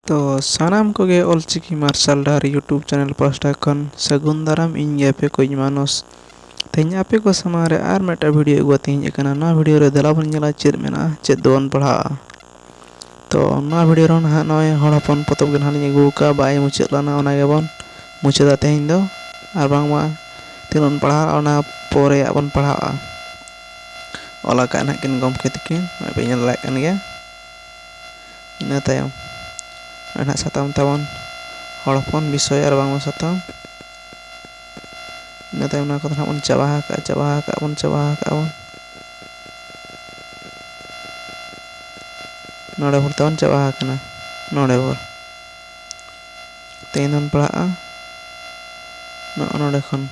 ᱛᱚ ᱥᱟᱱᱟᱢ ᱠᱚᱜᱮ ᱚᱞ ᱪᱤᱠᱤ ᱢᱟᱨᱥᱟᱞ ᱰᱟᱦᱟᱨ ᱭᱩᱴᱩᱵᱽ ᱪᱮᱱᱮᱞ ᱯᱟᱦᱴᱟ ᱠᱷᱚᱱ ᱥᱟᱹᱜᱩᱱ ᱫᱟᱨᱟᱢ ᱤᱧ ᱜᱮ ᱟᱯᱮ ᱠᱚᱭᱤᱡ ᱢᱟᱱᱚᱥ ᱛᱮᱦᱮᱧ ᱟᱯᱮ ᱠᱚ ᱥᱟᱢᱟᱝ ᱨᱮ ᱟᱨ ᱢᱤᱫᱴᱟᱝ ᱵᱷᱤᱰᱤᱭᱳ ᱟᱹᱜᱩ ᱠᱟᱛᱮᱧ ᱦᱮᱡ ᱟᱠᱟᱱᱟ ᱱᱚᱣᱟ ᱵᱷᱤᱰᱤᱭᱳ ᱨᱮ ᱫᱮᱞᱟ ᱵᱚᱱ ᱧᱮᱞᱟ ᱪᱮᱫ ᱢᱮᱱᱟᱜᱼᱟ ᱪᱮᱫ ᱫᱚᱵᱚᱱ ᱯᱟᱲᱦᱟᱜᱼᱟ ᱛᱚ ᱱᱚᱣᱟ ᱵᱷᱤᱰᱤᱭᱳ ᱨᱮᱦᱚᱸ ᱱᱟᱦᱟᱜ ᱱᱚᱜᱼᱚᱭ ᱦᱚᱲ ᱦᱚᱯᱚᱱ ᱯᱚᱛᱚᱵ ᱜᱮ ᱱᱟᱦᱟᱜ ᱞᱤᱧ ᱟᱹᱜᱩ ᱟᱠᱟᱫᱼᱟ ᱵᱟᱭ ᱢᱩᱪᱟᱹᱫ ᱞᱮᱱᱟ ᱚᱱᱟ ᱜᱮᱵᱚᱱ ᱢᱩᱪᱟᱹᱫᱟ ᱛᱮᱦᱮᱧ ᱫᱚ ᱟᱨ ᱵᱟᱝᱢᱟ ᱛᱤᱱᱟᱹᱜ ᱵᱚᱱ ᱯᱟᱲᱦᱟᱜᱼᱟ ᱚᱱᱟ ᱯᱚᱨᱮᱭᱟᱜ ᱵᱚᱱ ᱯᱟᱲᱦᱟᱜᱼᱟ ᱚᱞ ᱟᱠᱟᱫᱼᱟ ᱱᱟᱦᱟᱜ ᱠᱤᱱ ᱜᱚᱢᱠᱮ ᱛᱟᱹᱠᱤᱱ ᱱᱚᱜᱼᱚᱭ ᱯᱮ ᱧᱮᱞ ᱫᱟᱲᱮᱭᱟᱜ ᱠᱟᱱ ᱜᱮᱭᱟ ᱤᱱᱟᱹ ᱛᱟᱭᱚᱢ ᱨᱮᱱᱟᱜ ᱥᱟᱛᱟᱢ ᱛᱟᱵᱚᱱ ᱦᱚᱲ ᱦᱚᱯᱚᱱ ᱵᱤᱥᱚᱭ ᱟᱨ ᱵᱟᱝᱢᱟ ᱥᱟᱛᱟᱢ ᱤᱱᱟᱹ ᱛᱟᱭᱚᱢ ᱚᱱᱟ ᱠᱚᱫᱚ ᱦᱟᱸᱜ ᱵᱚᱱ ᱪᱟᱵᱟ ᱟᱠᱟᱜᱼᱟ ᱪᱟᱵᱟ ᱟᱠᱟᱜ ᱵᱚᱱ ᱪᱟᱵᱟ ᱟᱠᱟᱜ ᱵᱚᱱ ᱱᱚᱰᱮ ᱵᱷᱳᱨ ᱛᱟᱵᱚᱱ ᱪᱟᱵᱟ ᱟᱠᱟᱱᱟ ᱱᱚᱰᱮ ᱵᱷᱳᱨ ᱛᱮᱦᱮᱧ ᱵᱚᱱ ᱯᱟᱲᱦᱟᱜᱼᱟ ᱱᱚᱜᱼᱚ ᱱᱚᱰᱮ ᱠᱷᱚᱱ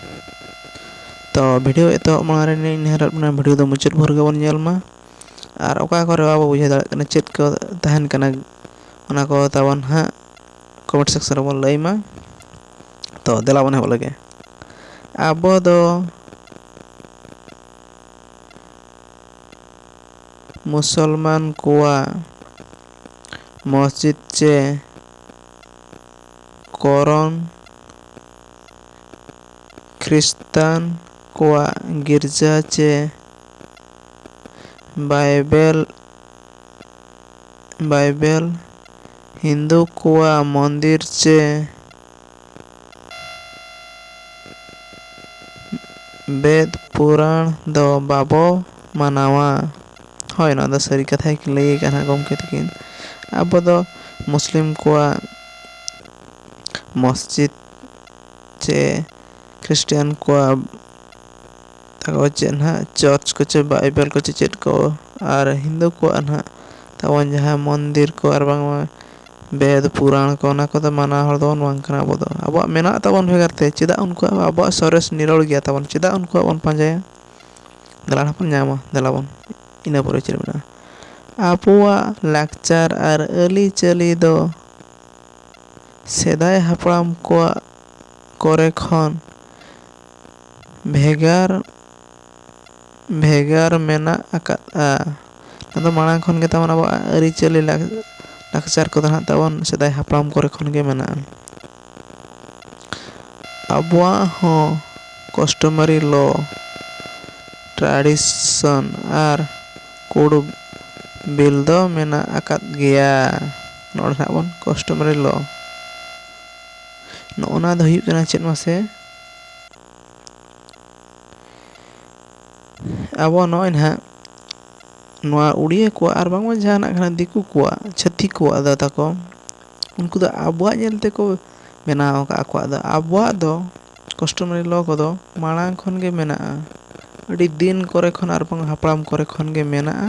ᱛᱚ ᱵᱷᱤᱰᱤᱭᱳ ᱮᱛᱚᱦᱚᱵ ᱢᱟᱲᱟᱝ ᱨᱮ ᱱᱮᱦᱚᱨᱚᱜ ᱠᱟᱱᱟ ᱵᱷᱤᱰᱤᱭᱳ ᱫᱚ ᱢᱩᱪᱟᱹᱫ ᱵᱷᱳᱨ ᱜᱮᱵᱚᱱ ᱧᱮᱞ ᱢᱟ ᱟᱨ ᱚᱠᱟ ᱠᱚᱨᱮ ᱵᱟᱵᱚ ᱵᱩᱡᱷᱟᱹᱣ ᱫᱟᱲᱮᱭᱟᱜ ᱠᱟᱱᱟ ᱪᱮᱫ ᱠᱚ ᱛᱟᱦᱮᱱ ᱠᱟᱱᱟ ᱚᱱᱟ ᱠᱚ ᱛᱟᱵᱚᱱ ᱦᱟᱸᱜ ᱠᱚᱢᱮᱱᱴ ᱥᱮᱠᱥᱮᱱ ᱨᱮᱵᱚᱱ ᱞᱟᱹᱭ ᱢᱟ ᱛᱚ ᱫᱮᱞᱟ ᱵᱚᱱ ᱮᱦᱚᱵ ᱞᱮᱜᱮ ᱟᱵᱚ ᱫᱚ ᱢᱩᱥᱚᱞᱢᱟᱱ ᱠᱚᱣᱟᱜ ᱢᱚᱥᱡᱤᱫ ᱪᱮ ᱠᱚᱨᱚᱱ ᱠᱷᱨᱤᱥᱛᱟᱱ ᱠᱚᱣᱟᱜ ᱜᱤᱨᱡᱟ ᱪᱮ ᱵᱟᱭᱵᱮᱞ ᱵᱟᱭᱵᱮᱞ ᱦᱤᱱᱫᱩ ᱠᱚᱣᱟᱜ ᱢᱚᱱᱫᱤᱨ ᱪᱮ ᱵᱮᱫᱽ ᱯᱩᱨᱟᱬ ᱫᱚ ᱵᱟᱵᱚ ᱢᱟᱱᱟᱣᱟ ᱦᱳᱭ ᱱᱚᱣᱟ ᱫᱚ ᱥᱟᱹᱨᱤ ᱠᱟᱛᱷᱟ ᱜᱮᱠᱤᱱ ᱞᱟᱹᱭ ᱟᱠᱟᱫᱼᱟ ᱱᱟᱦᱟᱜ ᱜᱚᱢᱠᱮ ᱛᱟᱹᱠᱤᱱ ᱟᱵᱚ ᱫᱚ ᱢᱩᱥᱞᱤᱢ ᱠᱚᱣᱟᱜ ᱢᱚᱥᱡᱤᱫᱽ ᱪᱮ ᱠᱷᱨᱤᱥᱴᱟᱱ ᱠᱚᱣᱟᱜ ᱛᱟᱠᱚ ᱪᱮᱫ ᱦᱟᱸᱜ ᱪᱟᱨᱪ ᱠᱚᱪᱚ ᱵᱟᱭᱵᱮᱞ ᱠᱚᱪᱚ ᱪᱮᱫ ᱠᱚ ᱟᱨ ᱦᱤᱱᱫᱩ ᱠᱚᱣᱟᱜ ᱱᱟᱦᱟᱜ ᱛᱟᱵᱚᱱ ᱡᱟᱦᱟᱸ ᱢᱚᱱᱫᱤᱨ ᱠᱚ ᱟᱨ ᱵᱟᱝᱢᱟ ᱵᱮᱫᱽ ᱯᱩᱨᱟᱱ ᱠᱚ ᱚᱱᱟ ᱠᱚᱫᱚ ᱢᱟᱱᱟᱣ ᱦᱚᱲ ᱫᱚ ᱵᱟᱝ ᱠᱟᱱᱟ ᱵᱚᱱ ᱟᱵᱚ ᱫᱚ ᱟᱵᱚᱣᱟᱜ ᱢᱮᱱᱟᱜ ᱛᱟᱵᱚᱱ ᱵᱷᱮᱜᱟᱨ ᱛᱮ ᱪᱮᱫᱟᱜ ᱩᱱᱠᱩᱣᱟᱜ ᱟᱵᱚᱣᱟᱜ ᱥᱚᱨᱮᱥ ᱱᱤᱨᱚᱲ ᱜᱮᱭᱟ ᱛᱟᱵᱚᱱ ᱪᱮᱫᱟᱜ ᱩᱱᱠᱩᱣᱟᱜ ᱵᱚᱱ ᱯᱟᱸᱡᱟᱭᱟ ᱫᱮᱞᱟ ᱱᱟᱦᱟᱜ ᱵᱚᱱ ᱧᱟᱢᱟ ᱫᱮᱞᱟ ᱵᱚᱱ ᱤᱱᱟᱹ ᱯᱚᱨᱮ ᱪᱮᱫ ᱢᱮᱱᱟᱜᱼᱟ ᱟᱵᱚᱣᱟᱜ ᱞᱟᱠᱪᱟᱨ ᱟᱨ ᱟᱹᱨᱤᱪᱟᱹᱞᱤ ᱫᱚ ᱥᱮᱫᱟᱭ ᱦᱟᱯᱲᱟᱢ ᱠᱚᱣᱟᱜ ᱠᱚᱨᱮ ᱠᱷᱚᱱ ᱵᱷᱮᱜᱟᱨ ᱵᱷᱮᱜᱟᱨ ᱢᱮᱱᱟᱜ ᱟᱠᱟᱫᱼᱟ ᱟᱫᱚ ᱢᱟᱲᱟᱝ ᱠᱷᱚᱱ ᱜᱮ ᱛᱟᱵᱚᱱ ᱟᱵᱚᱣᱟᱜ ᱟᱹᱨᱤᱪᱟᱹᱞᱤ ᱞᱟᱠᱪᱟᱨ ᱠᱚᱫᱚ ᱦᱟᱸᱜ ᱛᱟᱵᱚᱱ ᱥᱮᱫᱟᱭ ᱦᱟᱯᱲᱟᱢ ᱠᱚᱨᱮ ᱠᱷᱚᱱ ᱜᱮ ᱢᱮᱱᱟᱜᱼᱟ ᱟᱵᱚᱣᱟᱜ ᱦᱚᱸ ᱠᱟᱥᱴᱚᱢᱟᱨᱤ ᱞᱚ ᱴᱨᱟᱰᱤᱥᱚᱱ ᱟᱨ ᱠᱳᱰ ᱚᱯᱷ ᱵᱤᱞ ᱫᱚ ᱢᱮᱱᱟᱜ ᱟᱠᱟᱫ ᱜᱮᱭᱟ ᱱᱚᱰᱮ ᱦᱟᱸᱜ ᱵᱚᱱ ᱠᱟᱥᱴᱚᱢᱟᱨᱤ ᱞᱚ ᱱᱚᱜᱼᱚ ᱱᱟ ᱫᱚ ᱦᱩᱭᱩᱜ ᱠᱟᱱᱟ ᱪᱮᱫ ᱢᱟᱥᱮ ᱟᱵᱚ ᱱᱚᱜᱼᱚᱭ ᱱᱟᱦᱟᱜ ᱱᱚᱣᱟ ᱩᱲᱤᱭᱟᱹ ᱠᱚᱣᱟᱜ ᱟᱨ ᱵᱟᱝᱢᱟ ᱡᱟᱦᱟᱱᱟᱜ ᱠᱟᱱᱟ ᱫᱤᱠᱩ ᱠᱚᱣᱟᱜ ᱪᱷᱟᱹᱛᱤᱠ ᱠᱚᱣᱟᱜ ᱫᱚ ᱛᱟᱠᱚ ᱩᱱᱠᱩ ᱫᱚ ᱟᱵᱚᱣᱟᱜ ᱧᱮᱞ ᱛᱮᱠᱚ ᱵᱮᱱᱟᱣ ᱟᱠᱟᱫ ᱟᱠᱚᱣᱟᱜ ᱫᱚ ᱟᱵᱚᱣᱟᱜ ᱫᱚ ᱠᱟᱥᱴᱚᱢᱟᱨᱤ ᱞᱚ ᱠᱚᱫᱚ ᱢᱟᱲᱟᱝ ᱠᱷᱚᱱ ᱜᱮ ᱢᱮᱱᱟᱜᱼᱟ ᱟᱹᱰᱤ ᱫᱤᱱ ᱠᱚᱨᱮ ᱠᱷᱚᱱ ᱟᱨ ᱵᱟᱝ ᱦᱟᱯᱲᱟᱢ ᱠᱚᱨᱮ ᱠᱷᱚᱱ ᱜᱮ ᱢᱮᱱᱟᱜᱼᱟ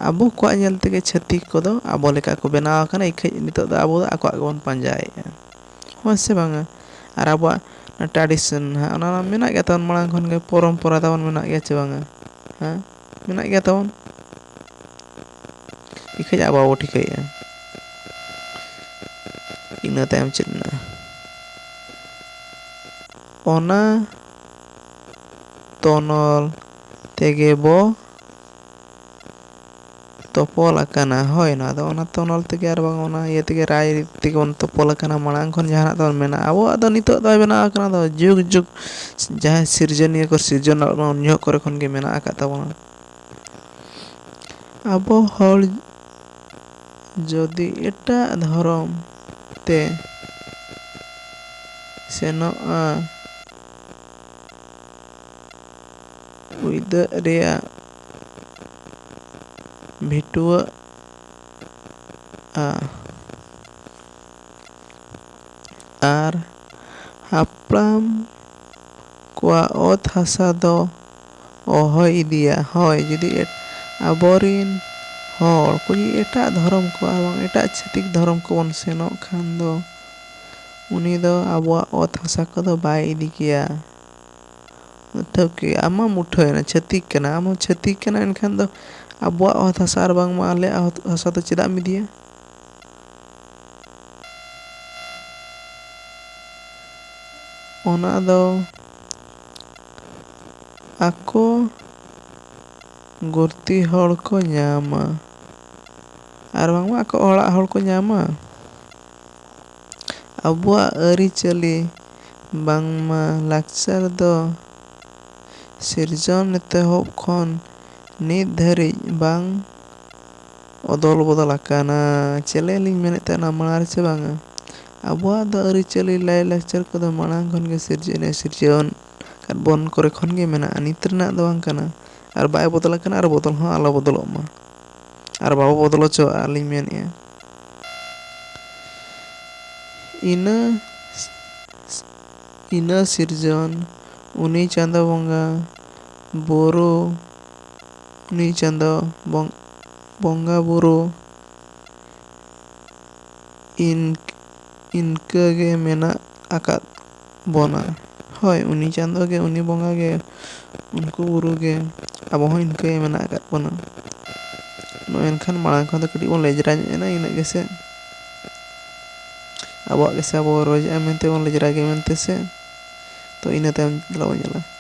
ᱟᱵᱚ ᱠᱚᱣᱟᱜ ᱧᱮᱞ ᱛᱮᱜᱮ ᱪᱷᱟᱹᱛᱤᱠ ᱠᱚᱫᱚ ᱟᱵᱚ ᱞᱮᱠᱟ ᱠᱚ ᱵᱮᱱᱟᱣ ᱟᱠᱟᱱᱟ ᱤᱠᱷᱟᱹᱡ ᱱᱤᱛᱚᱜ ᱫᱚ ᱟᱵᱚ ᱫᱚ ᱟᱠᱚᱣᱟᱜ ᱜᱮᱵᱚᱱ ᱯᱟᱸᱡᱟᱭᱮᱫᱼᱟ ᱦᱮᱸ ᱥᱮ ᱵᱟᱝᱟ ᱟᱨ ᱟᱵᱚᱣᱟᱜ ᱴᱨᱟᱰᱤᱥᱚᱱ ᱦᱟᱸᱜ ᱚᱱᱟ ᱢᱟ ᱢᱮᱱᱟᱜ ᱜᱮ ᱛᱟᱵᱚᱱ ᱢᱟᱲᱟᱝ ᱠᱷᱚᱱ ᱜᱮ ᱯᱚᱨᱚᱢᱯᱚᱨᱟ ᱛᱟᱵᱚᱱ ᱢᱮᱱᱟᱜ ᱜᱮᱭᱟ ᱪᱮ ᱵᱟᱝᱟ ᱦᱮᱸ ᱢᱮᱱᱟᱜ ᱜᱮᱭᱟ ᱛᱟᱵᱚᱱ ᱤᱠᱷᱟᱹᱡ ᱟᱵᱚ ᱵᱟᱵᱚ ᱴᱷᱤᱠᱟᱹᱭᱮᱫᱼᱟ ᱤᱱᱟᱹ ᱛᱟᱭᱚᱢ ᱪᱮᱫ ᱢᱮᱱᱟᱜᱼᱟ ᱚᱱᱟ ᱛᱚᱱᱚᱞ ᱛᱮᱜᱮ ᱵᱚ ᱛᱚᱯᱚᱞ ᱟᱠᱟᱱᱟ ᱦᱳᱭ ᱱᱚᱣᱟ ᱫᱚ ᱚᱱᱟ ᱛᱚᱱᱚᱞ ᱛᱮᱜᱮ ᱟᱨ ᱵᱟᱝ ᱚᱱᱟ ᱤᱭᱟᱹ ᱛᱮᱜᱮ ᱨᱟᱭ ᱨᱤᱛ ᱛᱮᱜᱮ ᱵᱚᱱ ᱛᱚᱯᱚᱞ ᱟᱠᱟᱱᱟ ᱢᱟᱲᱟᱝ ᱠᱷᱚᱱ ᱡᱟᱦᱟᱱᱟᱜ ᱛᱟᱵᱚᱱ ᱢᱮᱱᱟᱜᱼᱟ ᱟᱵᱚᱣᱟᱜ ᱫᱚ ᱱᱤᱛᱚᱜ ᱫᱚ ᱵᱮᱱᱟᱣ ᱟᱠᱟᱱᱟ ᱟᱫᱚ ᱡᱩᱜᱽ ᱡᱩᱜᱽ ᱡᱟᱦᱟᱸᱭ ᱥᱤᱨᱡᱚᱱᱤᱭᱟᱹ ᱠᱚ ᱥᱤᱨᱡᱚᱱ ᱞᱮᱫ ᱵᱚᱱᱟ ᱩᱱ ᱡᱚᱦᱚᱜ ᱠᱚᱨᱮ ᱠᱷᱚᱱ ᱜᱮ ᱢᱮᱱᱟᱜ ᱟᱠᱟᱫ ᱛᱟᱵᱚᱱᱟ ᱟᱵᱚ ᱦᱚᱲ ᱡᱩᱫᱤ ᱮᱴᱟᱜ ᱫᱷᱚᱨᱚᱢ ᱛᱮ ᱥᱮᱱᱚᱜᱼᱟ᱾ ᱩᱭᱫᱟᱹᱜ ᱨᱮᱭᱟᱜ ᱵᱷᱤᱴᱣᱟᱹᱜᱼᱟ᱾ ᱟᱨ ᱦᱟᱯᱲᱟᱢ ᱠᱚᱣᱟᱜ ᱚᱛ ᱦᱟᱥᱟ ᱫᱚ᱾ ᱚᱦᱚᱭ ᱤᱫᱤᱭᱟ᱾ ᱦᱚᱭ ᱡᱩᱫᱤ ᱟᱵᱚ ᱨᱤᱱ ᱦᱚᱲ ᱠᱚ ᱡᱩᱫᱤ ᱮᱴᱟᱜ ᱫᱷᱚᱨᱚᱢ ᱠᱚ ᱟᱨ ᱵᱟᱝ ᱮᱴᱟᱜ ᱪᱷᱟᱹᱛᱤᱠ ᱫᱷᱚᱨᱚᱢ ᱠᱚ ᱵᱚᱱ ᱥᱮᱱᱚᱜ ᱠᱷᱟᱱ ᱫᱚ ᱩᱱᱤ ᱫᱚ ᱟᱵᱚᱣᱟᱜ ᱚᱛ ᱦᱟᱥᱟ ᱠᱚ ᱫᱚ ᱵᱟᱭ ᱤᱫᱤ ᱠᱮᱭᱟ᱾ ᱴᱷᱟᱹᱣᱠᱟᱹ ᱟᱢ ᱢᱟᱢ ᱩᱴᱷᱟᱹᱣ ᱮᱱᱟ ᱪᱷᱟᱹᱛᱤᱠ ᱠᱟᱱᱟᱢ ᱟᱢ ᱦᱚᱸ ᱪᱷᱟᱹᱛᱤᱠ ᱠᱟᱱᱟᱢ ᱮᱱᱠᱷᱟᱱ ᱫᱚ ᱟᱵᱚᱣᱟᱜ ᱚᱛ ᱦᱟᱥᱟ ᱟᱨ ᱵᱟᱝ ᱢᱟ ᱟᱞᱮᱭᱟᱜ ᱚᱛ ᱦᱟᱥᱟ ᱫᱚ ᱪᱮᱫᱟᱜ ᱮᱢ ᱤᱫᱤᱭᱟ? ᱚᱱᱟ ᱫᱚ᱾ ᱟᱠᱚ ᱜᱩᱨᱛᱤ ᱦᱚᱲ ᱠᱚ ᱧᱟᱢᱟ ᱟᱨ ᱵᱟᱝᱢᱟ ᱟᱠᱚ ᱚᱲᱟᱜ ᱦᱚᱲ ᱠᱚ ᱧᱟᱢᱟ ᱟᱵᱚᱣᱟᱜ ᱟᱹᱨᱤᱪᱟᱹᱞᱤ ᱵᱟᱝᱢᱟ ᱞᱟᱠᱪᱟᱨ ᱫᱚ ᱥᱤᱨᱡᱚᱱ ᱮᱛᱚᱦᱚᱵ ᱠᱷᱚᱱ ᱱᱤᱛ ᱫᱷᱟᱹᱨᱤᱡ ᱵᱟᱝ ᱚᱫᱚᱞ ᱵᱚᱫᱚᱞ ᱟᱠᱟᱱᱟ ᱪᱮᱫ ᱞᱟᱹᱭ ᱞᱤᱧ ᱢᱮᱱᱮᱫ ᱛᱟᱦᱮᱱᱟ ᱢᱟᱲᱟᱝ ᱨᱮ ᱥᱮ ᱵᱟᱝᱟ ᱟᱵᱚᱣᱟᱜ ᱫᱚ ᱟᱹᱨᱤᱪᱟᱹᱞᱤ ᱞᱟᱭᱼᱞᱟᱠᱪᱟᱨ ᱠᱚᱫᱚ ᱢᱟᱲᱟᱝ ᱠᱷᱚᱱ ᱜᱮ ᱥᱤᱨᱡᱟᱹᱣ ᱮᱱᱮᱡ ᱥᱤᱨᱡᱟᱹᱣᱟᱱ ᱵᱚᱱ ᱠᱚᱨᱮ ᱠᱷᱚᱱ ᱜᱮ ᱢᱮᱱᱟᱜᱼᱟ ᱱᱤᱛ ᱨᱮᱱᱟᱜ ᱫᱚ ᱵᱟᱝ ᱠᱟᱱᱟ ᱟᱨ ᱵᱟᱭ ᱵᱚᱫᱚᱞ ᱟᱠᱟᱱᱟ ᱟᱨ ᱵᱚᱫᱚᱞ ᱦᱚᱸ ᱟᱞᱚ ᱵᱚᱫᱚᱞᱚᱜ ᱢᱟ ᱟᱨ ᱵᱟᱵᱚ ᱵᱚᱫᱚᱞ ᱦᱚᱪᱚᱣᱟᱜᱼᱟ ᱟᱹᱞᱤᱧ ᱢᱮᱱᱮᱫᱼᱟ ᱤᱱᱟᱹ ᱤᱱᱟᱹ ᱥᱤᱨᱡᱚᱱ ᱩᱱᱤ ᱪᱟᱸᱫᱚ ᱵᱚᱸᱜᱟ ᱵᱩᱨᱩ ᱩᱱᱤ ᱪᱟᱸᱫᱚ ᱵᱚᱸᱜᱟ ᱵᱩᱨᱩ ᱤᱱᱠᱟᱹ ᱜᱮ ᱢᱮᱱᱟᱜ ᱟᱠᱟᱫ ᱵᱚᱱᱟ ᱦᱳᱭ ᱩᱱᱤ ᱪᱟᱸᱫᱚ ᱜᱮ ᱩᱱᱤ ᱵᱚᱸᱜᱟ ᱜᱮ ᱩᱱᱠᱩ ᱵᱩᱨᱩ ᱜᱮ ᱟᱵᱚ ᱦᱚᱸ ᱤᱱᱠᱟᱹ ᱜᱮ ᱢᱮᱱᱟᱜ ᱟᱠᱟᱫ ᱵᱚᱱᱟ ᱢᱮᱱᱠᱷᱟᱱ ᱢᱟᱲᱟᱝ ᱠᱷᱚᱱ ᱫᱚ ᱠᱟᱹᱴᱤᱡ ᱵᱚᱱ ᱞᱮᱡᱽᱨᱟ ᱧᱚᱜ ᱮᱱᱟ ᱤᱱᱟᱹᱜ ᱜᱮᱥᱮ ᱟᱵᱚᱣᱟᱜ ᱜᱮᱥᱮ ᱟᱵᱚ ᱵᱚᱱ ᱨᱚᱡᱽ ᱮᱫᱟ ᱢᱮᱱᱛᱮ ᱵᱚᱱ ᱞᱮᱡᱽᱨᱟ ᱜᱮᱭᱟ ᱢᱮᱱᱛᱮ ᱥᱮ ᱛᱚ ᱤᱱᱟᱹ ᱛᱟᱭᱚᱢ ᱫᱮᱞᱟ ᱵᱚᱱ ᱧᱮᱞᱟ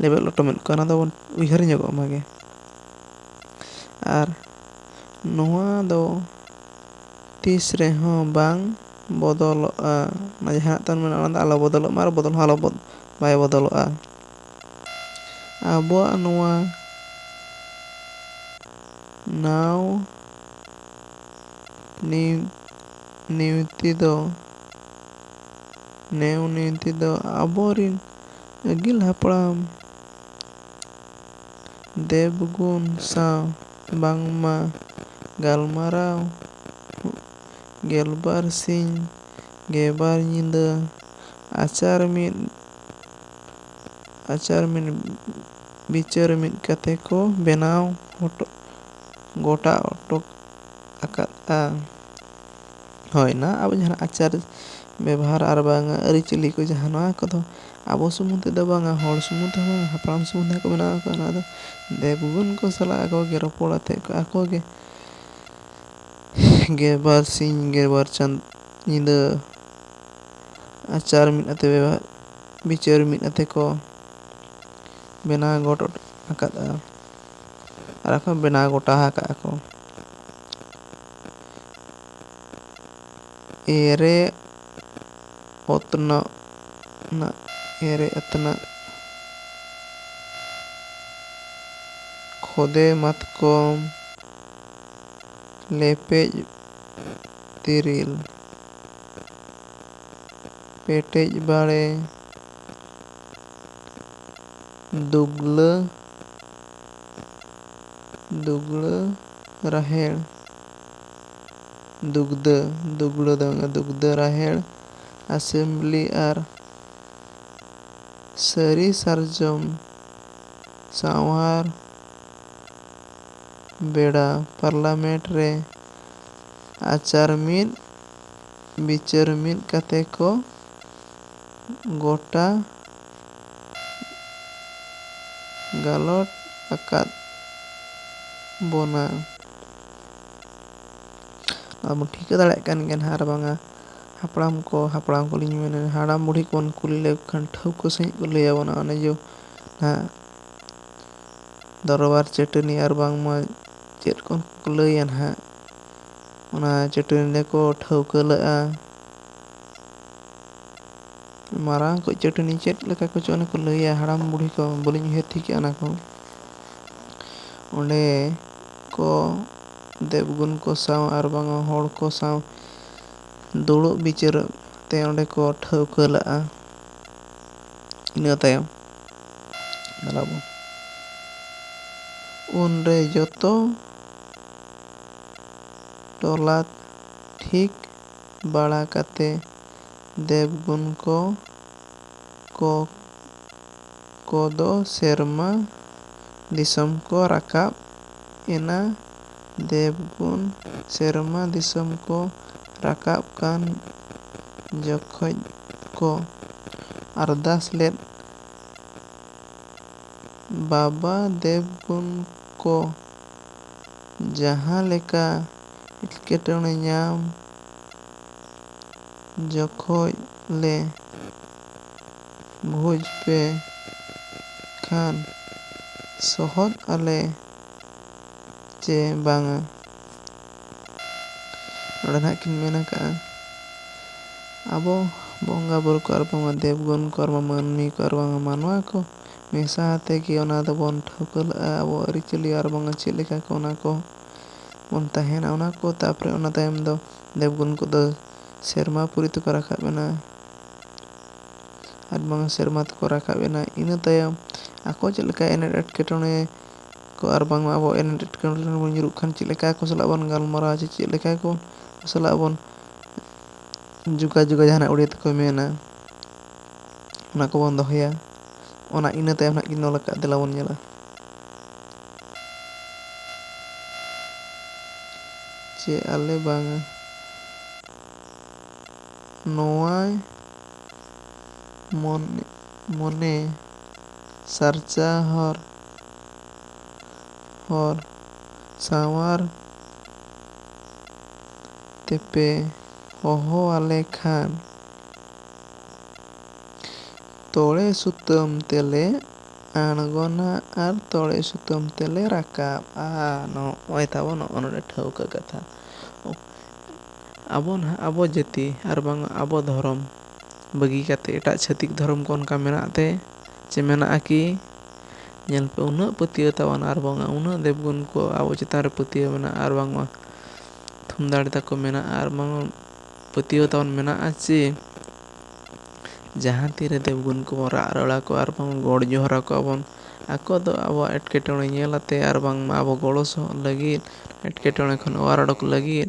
ᱞᱮᱵᱮᱫ ᱞᱚᱴᱚᱢᱮᱫ ᱠᱚᱣᱟ ᱚᱱᱟ ᱫᱚᱵᱚᱱ ᱩᱭᱦᱟᱹᱨ ᱧᱚᱜᱚᱜ ᱢᱟᱜᱮ ᱟᱨ ᱱᱚᱣᱟ ᱫᱚ ᱛᱤᱥ ᱨᱮᱦᱚᱸ ᱵᱟᱝ ᱵᱚᱫᱚᱞᱚᱜᱼᱟ ᱢᱟᱱᱮ ᱡᱟᱦᱟᱸ ᱛᱟᱵᱚᱱ ᱢᱮᱱᱟᱜᱼᱟ ᱚᱱᱟ ᱫᱚ ᱟᱞᱚ ᱵᱚᱫᱚᱞᱚᱜ ᱢᱟ ᱟᱨ ᱵᱚᱫᱚᱞ ᱦᱚᱸ ᱟᱞᱚ ᱵᱟᱭ ᱵᱚᱫᱚᱞᱚᱜᱼᱟ ᱟᱵᱚᱣᱟᱜ ᱱᱚᱣᱟ ᱱᱟᱶ ᱱᱤᱭᱩ ᱱᱤᱭᱩᱛᱤ ᱫᱚ ᱱᱮᱣ ᱱᱤᱭᱩᱛᱤ ᱫᱚ ᱟᱵᱚᱨᱤᱱ ᱟᱹᱜᱤᱞ ᱦᱟᱯᱲᱟᱢ ᱫᱮᱵᱽᱜᱩᱱ ᱥᱟᱶ ᱵᱟᱝᱢᱟ ᱜᱟᱞᱢᱟᱨᱟᱣ ᱜᱮᱞᱵᱟᱨ ᱥᱤᱧ ᱜᱮᱵᱟᱨ ᱧᱤᱫᱟᱹ ᱟᱪᱟᱨ ᱢᱤᱫ ᱟᱪᱟᱨ ᱢᱤᱫ ᱵᱤᱪᱟᱹᱨ ᱢᱤᱫ ᱠᱟᱛᱮ ᱠᱚ ᱵᱮᱱᱟᱣ ᱦᱚᱴᱚ ᱜᱚᱴᱟ ᱦᱚᱴᱚ ᱟᱠᱟᱫᱼᱟ ᱦᱳᱭ ᱚᱱᱟ ᱟᱵᱚ ᱡᱟᱦᱟᱸ ᱟᱪᱟᱨ ᱵᱮᱵᱚᱦᱟᱨ ᱟᱨ ᱵᱟᱝ ᱟᱹᱨᱤᱪᱟᱹᱞᱤ ᱠᱚ ᱡᱟᱦᱟᱸ ᱱᱚᱣᱟ ᱠᱚᱫᱚ ᱟᱵᱚ ᱥᱩᱢᱩᱝ ᱛᱮᱫᱚ ᱵᱟᱝᱟ ᱦᱚᱲ ᱥᱩᱢᱩᱝ ᱛᱮᱦᱚᱸ ᱵᱟᱝᱟ ᱦᱟᱯᱲᱟᱢ ᱥᱩᱢᱩᱝ ᱛᱮᱦᱚᱸ ᱠᱚ ᱵᱮᱱᱟᱣ ᱟᱠᱟᱫᱼᱟ ᱱᱚᱣᱟ ᱫᱚ ᱫᱮᱣ ᱵᱷᱩᱣᱟᱹᱝ ᱠᱚ ᱥᱟᱞᱟᱜ ᱟᱠᱚ ᱜᱮ ᱨᱚᱯᱚᱲ ᱟᱛᱮᱫ ᱠᱚ ᱟᱠᱚ ᱜᱮ ᱜᱮ ᱵᱟᱨ ᱥᱤᱧ ᱜᱮ ᱵᱟᱨ ᱪᱟᱸᱫᱚ ᱧᱤᱫᱟᱹ ᱟᱪᱟᱨ ᱢᱤᱫ ᱟᱛᱮᱫ ᱵᱮᱵᱚᱦᱟᱨ ᱵᱤᱪᱟᱹᱨ ᱢᱤᱫ ᱟᱛᱮᱫ ᱠᱚ ᱵᱮᱱᱟᱣ ᱜᱚᱫ ᱟᱠᱟᱫᱼᱟ ᱟᱨ ᱠᱚ ᱵᱮᱱᱟᱣ ᱜᱚᱴᱟ ᱟᱠᱟᱫᱼᱟ ᱠᱚ ᱮᱨᱮ ᱚᱛᱱᱚᱜ ᱱᱟᱜ ᱮᱨᱮ ᱟᱛᱱᱟᱜ ᱠᱷᱚᱫᱮ ᱢᱟᱛᱠᱚᱢ ᱞᱮᱯᱮᱡ ᱛᱤᱨᱤᱞ ᱯᱮᱴᱮᱡ ᱵᱟᱲᱮ ᱫᱩᱜᱽᱞᱟᱹ ᱫᱩᱜᱽᱲᱟᱹ ᱨᱟᱦᱮᱲ ᱫᱩᱜᱽᱫᱟᱹ ᱫᱩᱜᱽᱲᱟᱹ ᱫᱚ ᱵᱟᱝᱟ ᱫᱩᱜᱽᱫᱟᱹ ᱨᱟᱦᱮᱲ ᱟᱥᱮᱢᱵᱽᱞᱤ ᱟᱨ ᱥᱟᱹᱨᱤ ᱥᱟᱨᱡᱚᱢ ᱥᱟᱶᱟᱨ ᱵᱮᱲᱟ ᱯᱟᱨᱞᱟᱢᱮᱱᱴ ᱨᱮ ᱟᱪᱟᱨ ᱢᱤᱫ ᱵᱤᱪᱟᱹᱨ ᱢᱤᱫ ᱠᱟᱛᱮ ᱠᱚ ᱜᱚᱴᱟ ᱜᱟᱞᱚᱴ ᱟᱠᱟᱫ ᱵᱚᱱᱟ᱾ ᱱᱚᱣᱟ ᱵᱚᱱ ᱴᱷᱤᱠᱟᱹ ᱫᱟᱲᱮᱭᱟᱜ ᱠᱟᱱ ᱜᱮᱭᱟ ᱱᱟᱦᱟᱜ ᱟᱨ ᱵᱟᱝᱟ ᱦᱟᱯᱲᱟᱢ ᱠᱚ ᱦᱟᱯᱲᱟᱢ ᱠᱚᱞᱤᱧ ᱢᱮᱱᱟ ᱦᱟᱲᱟᱢ ᱵᱩᱰᱷᱤ ᱠᱚᱵᱚᱱ ᱠᱩᱞᱤ ᱞᱮᱠᱚ ᱠᱷᱟᱱ ᱴᱷᱟᱹᱣᱠᱟᱹ ᱥᱟᱺᱦᱤᱡ ᱠᱚ ᱞᱟᱹᱭ ᱟᱵᱚᱱᱟ ᱚᱱᱮ ᱡᱮ ᱱᱟᱦᱟᱜ ᱫᱚᱨᱵᱟᱨ ᱪᱟᱹᱴᱟᱹᱱᱤ ᱟᱨ ᱵᱟᱝᱢᱟ ᱪᱮᱫ ᱠᱚ ᱞᱟᱹᱭᱟ ᱱᱟᱦᱟᱜ ᱚᱱᱟ ᱪᱟᱹᱴᱟᱹᱱᱤ ᱨᱮᱠᱚ ᱴᱷᱟᱹᱣᱠᱟᱹ ᱞᱮᱫᱼᱟ ᱢᱟᱨᱟᱝ ᱠᱚᱡ ᱪᱟᱹᱴᱟᱹᱱᱤ ᱪᱮᱫ ᱞᱮᱠᱟ ᱠᱚᱪᱚ ᱚᱱᱮ ᱠᱚ ᱞᱟᱹᱭᱟ ᱦᱟᱲᱟᱢ ᱵᱩᱲᱦᱤ ᱠᱚ ᱵᱟᱹᱞᱤᱧ ᱩᱭᱦᱟᱹᱨ ᱴᱷᱤᱠ ᱮᱫᱟ ᱚᱱᱟ ᱠᱚ ᱚᱸᱰᱮ ᱠᱚ ᱫᱮᱵ ᱜᱩᱱ ᱠᱚ ᱥᱟᱶ ᱟᱨ ᱵᱟᱝ ᱦᱚᱲ ᱠᱚ ᱥᱟᱶ ᱫᱩᱲᱩᱵ ᱵᱤᱪᱟᱹᱨᱚᱜ ᱛᱮ ᱚᱸᱰᱮ ᱠᱚ ᱴᱷᱟᱹᱣᱠᱟᱹ ᱞᱟᱜᱼᱟ ᱤᱱᱟᱹ ᱛᱟᱭᱚᱢ ᱧᱮᱞᱟᱵᱚᱱ ᱩᱱᱨᱮ ᱡᱚᱛᱚ ᱴᱚᱞᱟ ᱴᱷᱤᱠ ᱵᱟᱲᱟ ᱠᱟᱛᱮ ᱫᱮᱵᱽᱜᱩᱱ ᱠᱚ ᱠᱚ ᱠᱚ ᱫᱚ ᱥᱮᱨᱢᱟ ᱫᱤᱥᱚᱢ ᱠᱚ ᱨᱟᱠᱟᱵ ᱮᱱᱟ᱾ ᱫᱮᱵᱽᱜᱩᱱ ᱥᱮᱨᱢᱟ ᱫᱤᱥᱚᱢ ᱠᱚ ᱨᱟᱠᱟᱵ ᱠᱟᱱ ᱡᱚᱠᱷᱚᱡ ᱠᱚ ᱟᱨᱫᱟᱥ ᱞᱮᱫ ᱵᱟᱵᱟ ᱫᱮᱵᱽᱜᱩᱱ ᱠᱚ ᱡᱟᱦᱟᱸ ᱞᱮᱠᱟ ᱮᱴᱠᱮᱴᱚᱬᱮ ᱧᱟᱢ ᱡᱚᱠᱷᱚᱡ ᱞᱮ ᱵᱷᱚᱡᱽ ᱯᱮ ᱠᱷᱟᱱ ᱥᱚᱦᱚᱫ ᱟᱞᱮ ᱪᱮ ᱵᱟᱝᱟ᱾ ᱱᱚᱰᱮ ᱱᱟᱦᱟᱜ ᱠᱤᱱ ᱢᱮᱱ ᱟᱠᱟᱫᱼᱟ ᱟᱵᱚ ᱵᱚᱸᱜᱟ ᱵᱩᱨᱩ ᱠᱚ ᱟᱨ ᱵᱟᱝᱢᱟ ᱫᱮᱵᱽ ᱜᱩᱱ ᱠᱚ ᱟᱨ ᱵᱟᱝ ᱢᱟᱹᱱᱢᱤ ᱠᱚ ᱟᱨ ᱵᱟᱝ ᱢᱟᱱᱣᱟ ᱠᱚ ᱢᱮᱥᱟ ᱟᱛᱮ ᱜᱮ ᱚᱱᱟ ᱫᱚᱵᱚᱱ ᱴᱷᱟᱹᱣᱠᱟᱹ ᱞᱮᱫᱼᱟ ᱟᱵᱚᱣᱟᱜ ᱟᱹᱨᱤᱪᱟᱹᱞᱤ ᱟᱨ ᱵᱟᱝᱟ ᱪᱮᱫ ᱞᱮᱠᱟ ᱠᱚ ᱚᱱᱟ ᱠᱚ ᱵᱚᱱ ᱛᱟᱦᱮᱸᱱᱟ ᱚᱱᱟ ᱠᱚ ᱛᱟᱨᱯᱚᱨᱮ ᱚᱱᱟ ᱛᱟᱭᱚᱢ ᱫᱚ ᱫᱮᱵᱽᱜᱩᱱ ᱠᱚᱫᱚ ᱥᱮᱨᱢᱟ ᱯᱩᱨᱤ ᱛᱮᱠᱚ ᱨᱟᱠᱟᱵ ᱮᱱᱟ ᱟᱨ ᱵᱟᱝ ᱥᱮᱨᱢᱟ ᱛᱮᱠᱚ ᱨᱟᱠᱟᱵ ᱮᱱᱟ ᱤᱱᱟᱹ ᱛᱟᱭᱚᱢ ᱟᱠᱚ ᱪᱮᱫ ᱞᱮᱠᱟ ᱮᱱᱮᱴ ᱮᱴᱠᱮᱴᱚᱬᱮ ᱠᱚ ᱟᱨ ᱵᱟᱝᱢᱟ ᱟᱵᱚ ᱮᱱᱮᱴ ᱮᱴᱠᱮᱴᱚᱬᱮ ᱨᱮ ᱵᱚᱱ ᱧᱩᱨᱩᱜ ᱠᱷᱟᱱ ᱪᱮᱫ ᱞᱮᱠᱟ ᱟᱠᱚ ᱥᱟᱞᱟᱜ ᱵᱚᱱ ᱜᱟᱞᱢᱟᱨᱟᱣᱟ ᱪᱮ ᱪᱮᱫ ᱞᱮᱠᱟ ᱠᱚ ᱥᱟᱞᱟᱜ ᱵᱚᱱ ᱡᱳᱜᱟᱡᱳᱜᱟ ᱡᱟᱦᱟᱸᱱᱟᱜ ᱩᱲᱤᱭᱟ ᱛᱮᱠᱚ ᱢᱮᱱᱟ ᱚᱱᱟ ᱠᱚᱵᱚᱱ ᱫᱚᱦᱚᱭᱟ ᱚᱱᱟ ᱤᱱᱟᱹ ᱛᱟᱭᱚᱢ ᱦᱟᱸᱜ ᱠᱤᱱ ᱚᱞ ᱟᱠᱟᱫ ᱫᱮᱞᱟ ᱵᱚᱱ ᱧᱮᱞᱟ ᱪᱮ ᱟᱞᱮ ᱵᱟᱝᱟ ᱱᱚᱶᱟᱭ ᱢᱚᱱᱮ ᱥᱟᱨᱪᱟ ᱦᱚᱨ ᱦᱚᱨ ᱥᱟᱶᱟᱨ ᱛᱮᱯᱮ ᱦᱚᱦᱚ ᱟᱞᱮ ᱠᱷᱟᱱ᱾ ᱛᱚᱲᱮ ᱥᱩᱛᱟᱹᱢ ᱛᱮᱞᱮ ᱟᱬᱜᱚᱱᱟ ᱟᱨ ᱛᱚᱲᱮ ᱥᱩᱛᱟᱹᱢ ᱛᱮᱞᱮ ᱨᱟᱠᱟᱵᱼᱟ ᱱᱚᱜᱼᱚᱭ ᱛᱟᱵᱚ ᱱᱚᱜᱼᱚ ᱱᱚᱰᱮ ᱴᱷᱟᱹᱣᱠᱟᱹ ᱠᱟᱛᱷᱟ ᱟᱵᱚ ᱱᱟᱦᱟᱜ ᱟᱵᱚ ᱡᱟᱹᱛᱤ ᱟᱨ ᱵᱟᱝ ᱟᱵᱚ ᱫᱷᱚᱨᱚᱢ ᱵᱟᱹᱜᱤ ᱠᱟᱛᱮᱫ ᱮᱴᱟᱜ ᱪᱷᱟᱹᱛᱤᱠ ᱫᱷᱚᱨᱚᱢ ᱠᱚ ᱚᱱᱠᱟ ᱢᱮᱱᱟᱜ ᱛᱮ ᱪᱮ ᱢᱮᱱᱟᱜᱼᱟ ᱠᱤ ᱧᱮᱞ ᱯᱮ ᱩᱱᱟᱹᱜ ᱯᱟᱹᱛᱭᱟᱹᱣ ᱛᱟᱵᱚᱱ ᱟᱨ ᱵᱟᱝᱟ ᱩᱱᱟᱹᱜ ᱫᱮᱵᱽ ᱜᱩᱱ ᱠᱚ ᱟᱵᱚ ᱪᱮᱛᱟᱱ ᱨᱮ ᱯᱟᱹᱛᱭᱟᱹᱣ ᱢᱮᱱᱟᱜᱼᱟ ᱟᱨ ᱵᱟᱝᱢᱟ ᱛᱷᱩᱢ ᱫᱟᱲᱮ ᱛᱟᱠᱚ ᱢᱮᱱᱟᱜᱼᱟ ᱟᱨ ᱵᱟᱝ ᱯᱟᱹᱛᱭᱟᱹᱣ ᱛᱟᱵᱚᱱ ᱢᱮᱱᱟᱜᱼᱟ ᱡᱮ ᱡᱟᱦᱟᱸ ᱛᱤᱨᱮ ᱫᱮᱵᱽᱜᱩᱱ ᱠᱚᱵᱚᱱ ᱨᱟᱜ ᱨᱚᱲ ᱟᱠᱚᱣᱟ ᱟᱨ ᱵᱟᱝ ᱜᱚᱰ ᱡᱚᱦᱟᱨ ᱟᱠᱚᱣᱟ ᱵᱚᱱ ᱟᱠᱚ ᱫᱚ ᱟᱵᱚᱣᱟᱜ ᱮᱴᱠᱮᱴᱚᱬᱮ ᱧᱮᱞ ᱟᱛᱮᱫ ᱟᱨ ᱵᱟᱝᱢᱟ ᱟᱵᱚ ᱜᱚᱲᱚ ᱥᱚᱦᱚᱫ ᱞᱟᱹᱜᱤᱫ ᱮᱴᱠᱮᱴᱚᱬᱮ ᱠᱷᱚᱱ ᱚᱣᱟᱨ ᱩᱰᱩᱠ ᱞᱟᱹᱜᱤᱫ